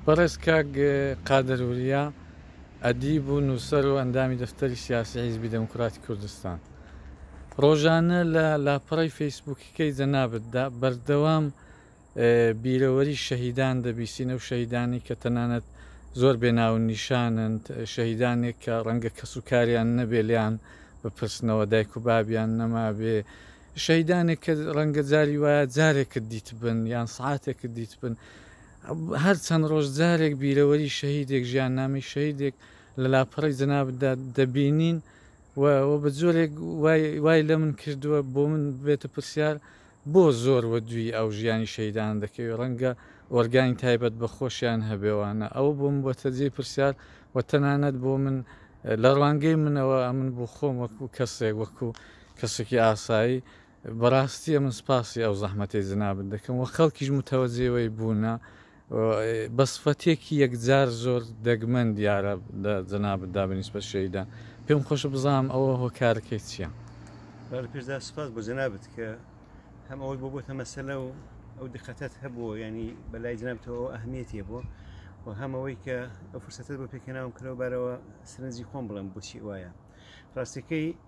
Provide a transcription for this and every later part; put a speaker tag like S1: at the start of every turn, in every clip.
S1: بەڕێز کاک قادر وریا، ئەدیب و نووسەر و ئەندامی دەفتەری سیاسی حیزبی دێموکڕاتی کوردستان، ڕۆژانە لە لاپەڕەی فەیسبووکیکەی جەنابتدا بەردەوام بیرەوەری شەهیدان دەبیسین، ئەو شەهیدانەی کە تەنانەت زۆر بێ ناوونیشانن، شەهیدانێک کە ڕەنگە کەسوکاریان نەبێ لێیان بپرسنەوە، دایک و بابیان نەمابێ، شەهیدانێک کە ڕەنگە جاری وایە جارێکت دیتبن یان سعاتێکت دیتبن هەر چەند ڕۆژ جارێک بیرەوەری شەهیدێک ژیان نامی شەهیدێک لە لاپەڕی جەنابدا دەبینین و بە جۆرێک وای لە من کردووە بۆ من بێتە پرسیار بۆ زۆر وە دوی ئەو ژیانی شەیدان دەکەوێت ڕەنگە ئۆرگانی تایبەت بە خۆشیان هەبێوانە ئەو بۆم بۆتە جێ پرسیار و تەنانەت بۆ من لە ڕوانگەی منەوە ئەمن بۆ خۆم وەکو کەسێک وەکو کەسێکی ئاسایی بەراستی ئەمن سپاسی ئەو زەحمەتەی جەنابت دەکەم وە خەڵکیش متەوەجێ وەی بونە بە سفەتێکی یەکجار زۆر دەگمەن دیارە لە جەنابت دا بە نیسبەت شەهیدان پێم خۆشە بزانم ئەوە هۆکارەکەی چیە؟ با لە پێشدا
S2: سپاس بۆ جەنابت کە هەم ئەوەت بۆ بۆتە مەسەلە و ئەو دقەتەت هەبووە ینی بە لای جەنابتەوە ئەو ئەهمیەتیە بۆ و هەمەوەی کە ئەو فرسەتت بۆ پێکەناوم کەەوە بارەوە سرنجی خۆم بڵم بۆچی وایە ڕاستەکەی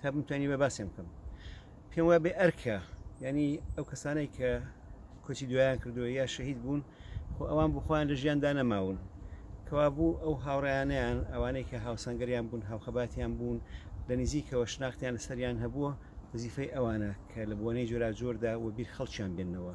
S2: تا بمتوانی بە باسێن بکەم پێم وە بێ ئەرکە ینی ئەو کەسانەی کە کۆچی دوایان کردووە یا شەهید بوون خۆ ئەوان بخۆیان لە ژیاندا نەماون کەوا بوو ئەو هاوڕیانیان ئەوانەی کە هاوسەنگەریان بوون هاوخەباتیان بوون لە نزیکەوە شناختیان لەسەریان هەبووە وزیفەی ئەوانە کە لە بۆنەی جۆراجۆردا و بیر خەڵکیان بێنەوە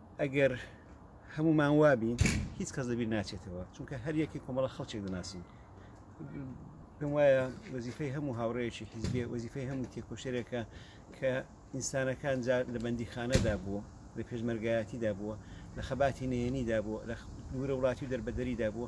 S2: ئەگەر هەموومان وابین هیچ کەس لەبیر ناچێتەوە چونکە هەر یەکی کۆمەڵە خەڵکێک دەناسین پێم وایە وەزیفەی هەموو هاوڕێیەکی حیزبێ وەزیفەی هەموو تێکۆشەرێکە کە ئینسانەکان جار لە بەندی خانەدا بووە لە پێشمەرگایەتیدا بووە لە خەباتی نێنیدا بووە لە دوورە وڵاتی و دەربەدەریدا بووە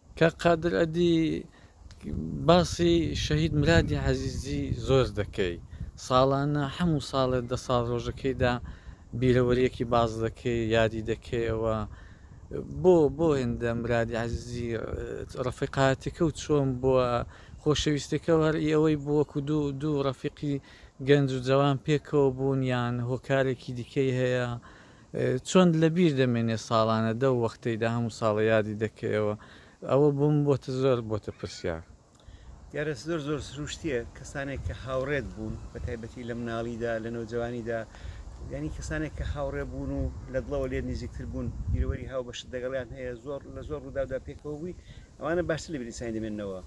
S1: کاک قادر ئەدی باسی شەهید مرادی عەزیزی زۆر دەکەی ساڵانە هەموو ساڵێ دە ساڵ ڕۆژەکەیدا بیرەوەریەکی باز دەکەی یادی دەکەیەوە بۆ بۆ هێندە مرادی عزیزی ڕفیقاتەکە و چۆن بووە خۆشەویستەکە هەر ئەوەی بووەکو دوو دوو ڕفیقی گەنج و جوان پێکەوە بوونیان هۆکارێکی دیکەی هەیە چۆن لە بیر دەمێنێ ساڵانە دەو وەختەیدا هەموو ساڵە یادی دەکەیەوە ئەوە بۆم بۆتە زۆر بۆتە پرسیار. دیارە
S2: زۆر زۆر سروشتیە کەسانێک کە هاوڕێت بوون بە تایبەتی لە مناڵیدا لە نەوجەوانیدا یانی کەسانێک کە هاوڕێ بوون و لە دڵەوە لێت نیزیکتر بوون بیرەوەری هاوبەشت دەگەڵیان هەیە زۆر لە زۆر ڕووداودا پێکەوە بووی ئەوانە باشتر لە بیر ئینسانی دەمێنەوە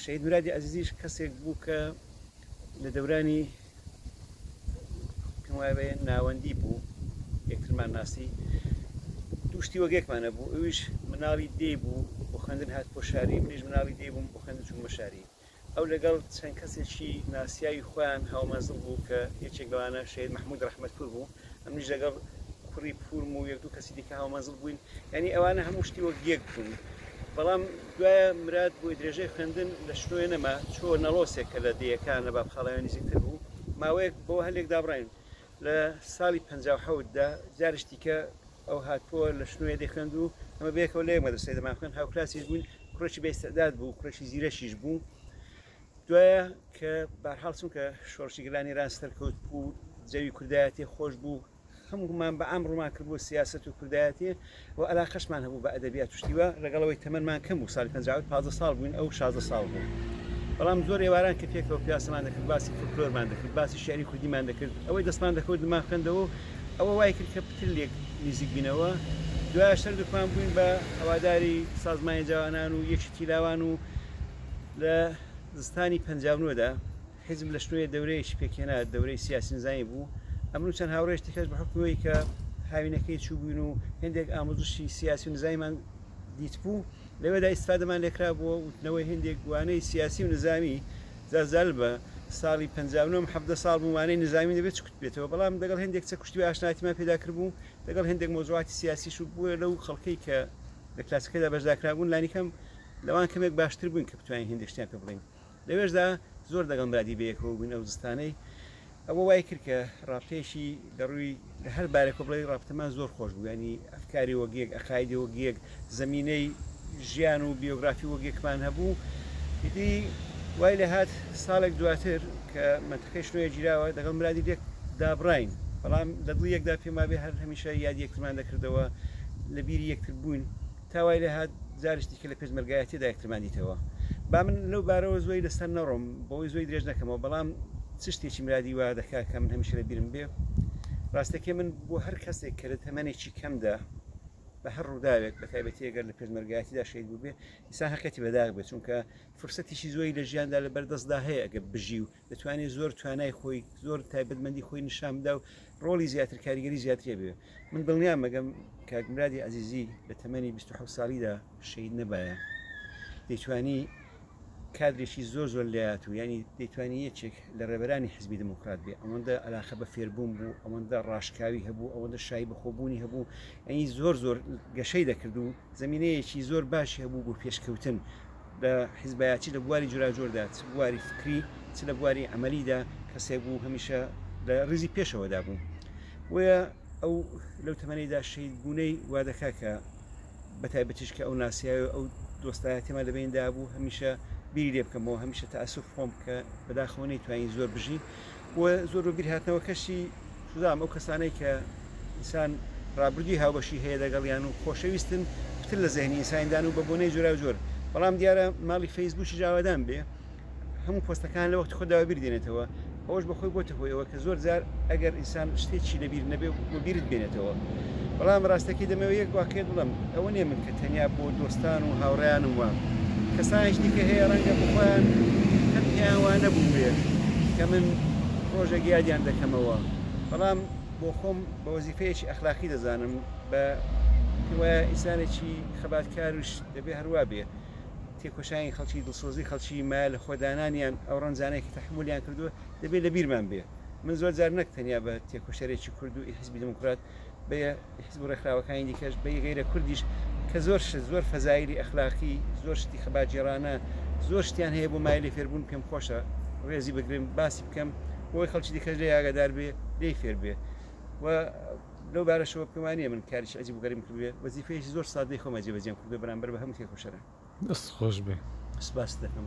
S2: شەهید مرادی عەزیزیش کەسێک بوو کە لە دەورانی پێم وایە بەیە ناوەندی بوو یەکترمان ناسی دوو شتی وەگێکمان هەبوو ئەویش مناڵی دێ بوو بۆ خوێندن هات بۆ شاری منیش مناڵی دێ بووم بۆ خوێندن چوومە شاری ئەو لەگەڵ چەند کەسێکی ناسیاوی خۆیان هاومەنزڵ بوو کە یەکێک لەوانە شەید مححمود رححمەتپور بوو منیش لەگەڵ کوڕی پورم و یەک دوو کەسی دیکە هاومەنزڵ بووین یعنی ئەوانە هەموو شتی وەک یەک بوون بەڵام دوایە مراد بۆی درێژەی خوێندن لە شنۆێ نەما چۆ نەڵۆسێک کە لە دەیەکان لە بابخاڵەوە نزیکتر بوو ماوەیەک بۆ هەلێک دابڕین لە ساڵی پ دا جارش دیکە ئەو هاتووە لە شنوێ دەخوێند و ئەمە بێکەوە لە یەک مەدرسەی دەماخوێن هاوکلاسیش بووین کوڕێکی بێستعداد بوو کوڕێکی زیرەکیش بوو دوایە کە بارحاڵ چونکە شۆڕشی گەلانی ئێران سەرکەوت بوو جەوی کوردایەتی خۆش بوو خەمگومان بە ئام ڕوومان کرد بۆ سیاست و کوردایەتی و علاقەشمان هەبوو بە ئەدەبیات شتیوە لەگەڵەوەی تەمەمان کەم بوو ساڵی 50 15 ساڵ بووین ئەو 16 ساڵ بوو بەڵام زۆر ئێواران کە پێکەوە پیاسەمان دەکرد باسی فلکلۆرمان دەکرد باسی شعری کوردیمان دەکرد ئەوەی دەستمان دەکەوت دمان خوێندەوە ئەوە وای کرد کە پتر لێک نزیک بینەوە دوای شەر دکمان بووین بە هەواداری سازمانی جوانان و یەکی تیلاوان و لە زستانی پەنجا و نۆ دا حیزب لە شنۆیە دەورەیەکی پێکهێنا، دەورەی سیاسی نزامی بوو، ئەمن و چەند هاوڕێیش دیکەش بە حوکمی ئەوەی کە هاوینەکەی چووبووین و هێندێک ئامۆزشی سیاسی و نزامیمان دیتبوو، لەوێدا ئیستفادەمان لێ کرابووە و وتنەوەی هێندێک وانەی سیاسی و نزامی زلزال بە ساڵی پەنجا و نۆ م حەڤدە ساڵ بووم وانەی نزامیم دەبێ چکت بێتەوە، بەڵام دەگەڵ هێندێک چەک و شتیوە ئاشنایەتیمان پێدا کردبوو، دەگەڵ هێندێک مەوزوعاتی سیاسیش و بۆیە لەو خەڵکەی کە لە کلاسەکەدا بەشدارکرابوون لانیکەم لەوان کەمێک باشتر بووین کە بتوانین هێندێک شتیان پێ بڵێین لەوێشدا زۆر دەگەڵ مرادی بەیەکەوە بووین ئەو زستانەی ئەوە وای کرد کە ڕابتەیەکی لەڕووی لە هەر بارێکەوە بڵێی ڕابتەمان زۆر خۆش بوو ینی ئەفکاری وەگیەک ئەقایدی وەگیەک زەمینەی ژیان و بیۆگرافی وەگیەکمان هەبوو ئیدی وای لە هات ساڵێک دواتر کە منتەقەی شنۆیە گیراوە دەگەڵ مرادی لێک دابڕین بەڵام لە دڵی یەکدا پێما بێ هەر هەمیشە یادی یەکترمان دەکردەوە لە بیری یەکتر بووین تا وای لێهات جاریش دیکە لە پێشمەرگایەتییەدا یەکترمان دیتەوە. با من لەو بارەوە زۆی لەسەر نەڕۆم، بەوەی زۆی درێژ نەکەمەوە، بەڵام چ شتێکی مرادی وا دەکا کە من هەمیشە لە بیرم بێ؟ ڕاستەکەی من بۆ هەر کەسێک کە لە تەمەنێکی کەمدا بە هەر ڕووداوێک بە تایبەتی ئەگەر لە پێشمەرگایەتیدا شەهید بووبێ، ئینسان هەقیەتی بەداخ بێ، چونکە فرسەتێکی زۆری لە ژیاندا لەبەردەستدا هەیە ئەگەر بژی و دەتوانێت زۆر توانای خۆی زۆر تایبەتمەندی خۆی نیشان بدا و ڕۆڵی زیاتر کاریگەری زیاترێ بێ من دڵنیام مەگەم کاکمرادی عزیزی لە تەمەنی 26 ساڵیدا شەید نەبایە دەیتوانی کادرێکی زۆر زۆر لات و ینی دەیتوانی یەکێک لە ڕێبەرانی حزبی دموکرات بێ ئەوەندە علاقە بە فێربوون بوو ئەوەندە ڕاشکاوی هەبوو ئەوەندە شای بەخۆبوونی هەبوو ئەنی زۆر زۆر گەشەی دەکرد و زمینەیەکی زۆر باشی هەبوو بۆ پێشکەوتن لە حیزبەیا چ لە بواری جوراجۆردا چ بواری فکری چ لە بواری عەمەلیدا کەسێک بوو هەمیشە لە ڕیزی پێشەوەدا بوو بۆیە ئەو لەو تەمەنەیدا شەید بوونەی وادەکا کە بە تایبەتیش کە ئەو ناسیاوی ئەو دۆستایەتێمە لە بیندا بوو هەمیشە بیری لێ بکەمەوە هەمیشە تاسف خۆم کە بەداخەوە نەیتوانی زۆر بژی و زۆر بە بیرهاتنەوەکەشی دەڵێم ئەو کەسانەی کە ئینسان ڕابردووی هاوبەشی هەیە لەگەڵیان و خۆشەویستن پتر لە زەهنی ئینسانیدان و بە بۆنەی جۆراوجۆر بەڵام دیارە ماڵی فەیسبووکیش ئاوادان بێ هەموو پۆستەکان لە وەختی خۆدا بەبیر دێنێتەوە ئەوەش بەخۆی بۆتە هۆی ئەوە کە زۆر جار ئەگەر ئینسان شتێکی لەبیر نەبێ و بیرت بێنێتەوە. بەڵام ڕاستەکەی دەمەوێ یەک واقیعت بڵێم، ئەوە نیە من کە تەنیا بۆ دۆستان و هاوڕێیانم وام، کەسانێکی دیکە هەیە ڕەنگە بۆ خۆیان هەر پێیان وا نەبووبێت کە من ڕۆژێک یادیان دەکەمەوە، بەڵام بۆ خۆم بە وەزیفەیەکی ئەخلاقی دەزانم، بە پێموایە ئینسانێکی خەباتکاریش دەبێ هەروا بێ، تێکۆشانی خەڵکی، دڵسۆزی خەڵکی، مایە لە خۆدانانیان، ئەو ڕەنجانەی کە تەحەمولیان کردووە دەبێ لە بیرمان بێ. من زۆر جار نەک تەنیا بە تێکۆشەرێکی کورد و ئی حیزبی دێموکرات بە یە ئی حیزب و ڕێکخراوەکانی دیکەش بە یە غەیرە کوردیش کە زۆر شت زۆر فەزایلی ئەخلاقی زۆر شتی خەباتگێڕانە زۆر شتیان هەیە بۆ مایەی لێفێربوون پێم خۆشە ڕێزی بگرم باسی بکەم بۆ ئەوەی خەڵکی دیکەش لێی ئاگادار بێ لێی فێر بێ و لەو بارەشەوە پێم وا نییە من کاریکی عەجیب و غەریبم کردبێ وەزیفەیەکی زۆر سادەی خۆمە جێبەجێم
S1: کردووە
S2: بەرامبەر بە هەموو تێکۆشەران دەستت خۆش بێ. سپاست دەکەم.